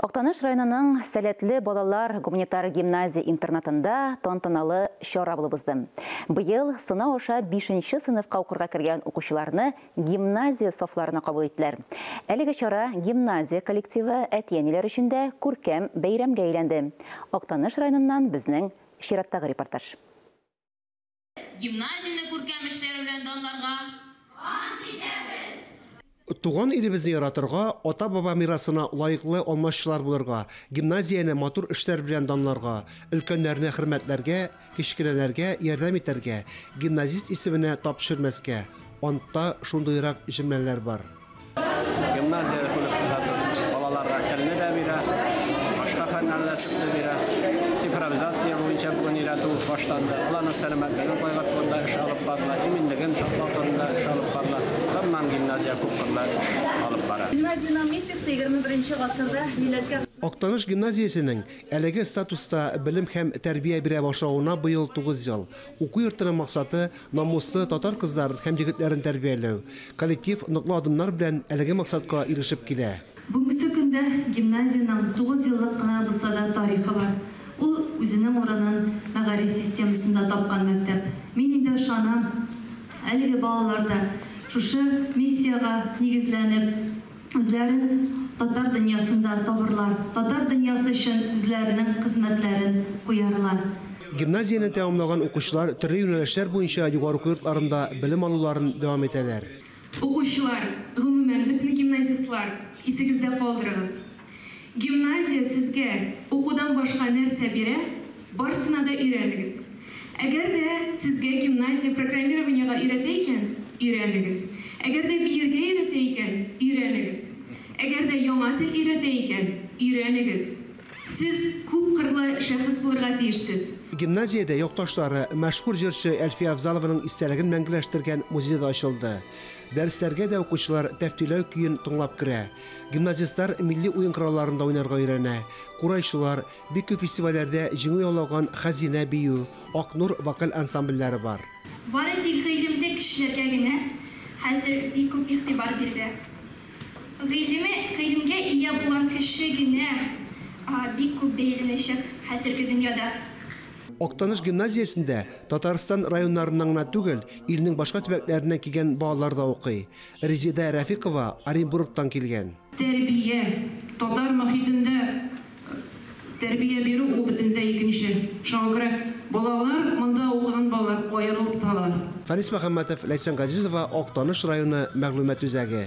Актаныш районының Сәләтле балалар гуманитар гимназия-интернатында тантаналы чара булып узды. Быел сынау аша 5 нче сыйныфка укырга кергән укучыларны гимназия сафларына кабул иттеләр. Әлеге чара гимназия коллективы, әти-әниләр өчен дә күркәм бәйрәмгә әйләнде. Актаныш районыннан безнең чираттагы репортаж. Гимназияне күркәм эшләре белән данларга ант итәбез! Туган илебезне яратырга, ата-баба мирасына лаеклы алмашчылар булырга, гимназияне матур эшләр белән данларга, өлкәннәрне хөрмәтләргә, кечкенәләргә ярдәм итәргә, гимназист исеменә тап төшермәскә. Антта шундыйрак җөмләләр бар. Гимназия коллективасы балаларга телне дә бирә, башка фәннәрне дә төпле бирә. Цифровизация буенча бүген өйрәтү башланды. Аларның сәламәтлеген кайгырту турында эш алып барыла, иминлеген саклау турында эш алып барыла. Гомумән, гимназия күпкырлы эш алып бара. Гимназиянең миссиясе егерме беренче гасырда милләткә. Актаныш гимназиясенең әлеге статуста белем һәм тәрбия бирә башлавына быел тугыз ел. Уку йортының максаты, намуслы татар кызларын һәм егетләрен тәрбияләү. Коллектив ныклы адымнар белән әлеге максатка ирешеп килә. Бүгенге көндә гимназиянең тугыз еллык кына булса да тарихы бар. Ул үзенең урынын мәгариф системасында тапкан мәктәп. Мин инде ышанам, әлеге балалар да шушы миссиягә нигезләнеп, үзләрен татар дөньясында табырлар, татар дөньясы өчен үзләренең хезмәтләрен куярлар. Гимназияне тәмамлаган укучылар төрле юнәлешләр буенча югары уку йортларында белем алуларын дәвам итәләр. Укучылар, гомумән, бөтен гимназистлар, исегездә калдырыгыз, Гимназия сезгә укудан башка нәрсә бирә, барсына да өйрәнегез. Әгәр дә сезгә гимназия программированиегә өйрәтә икән, өйрәнегез. Әгәр дә биергә өйрәтә икән, өйрәнегез. Әгәр дә яңа тел өйрәтә икән, өйрәнегез. Сез күпкырлы шәхес булырга тиешсез. Гимназиядә якташлары, мәшһүр җырчы Әлфия Авзалованың истәлеген мәңгеләштергән музей да ачылды. Дәресләргә дә укучылар Тәфтиләү көен тыңлап керә. Гимназистлар милли уен коралларында уйнарга өйрәнә. Курайчылар, бик күп фестивальләрдә җиңү яулаган Хәзинә бию, Ак нур вокаль ансамбльләре бар. Бары тик гыйлемле кешеләргә генә хәзер бик күп игътибар бирелә. Гыйлеме, гыйлемгә ия булган кеше генә бик күп бәяләнәчәк хәзерге дөньяда. Актаныш гимназиясендә Татарстан районнарыннан гына түгел, илнең башка төбәкләреннән килгән балалар да укый. Резеда Рәфикова Оренбургтан килгән. Тәрбия, татар мохитендә тәрбия бирү ул бөтенләй икенче. Шуңа күрә балалар, монда укыган балалар аерылып торалар. Фәнис Мөхәммәтов, Ләйсән Газизова, Актаныш районы мәгълүмат үзәге.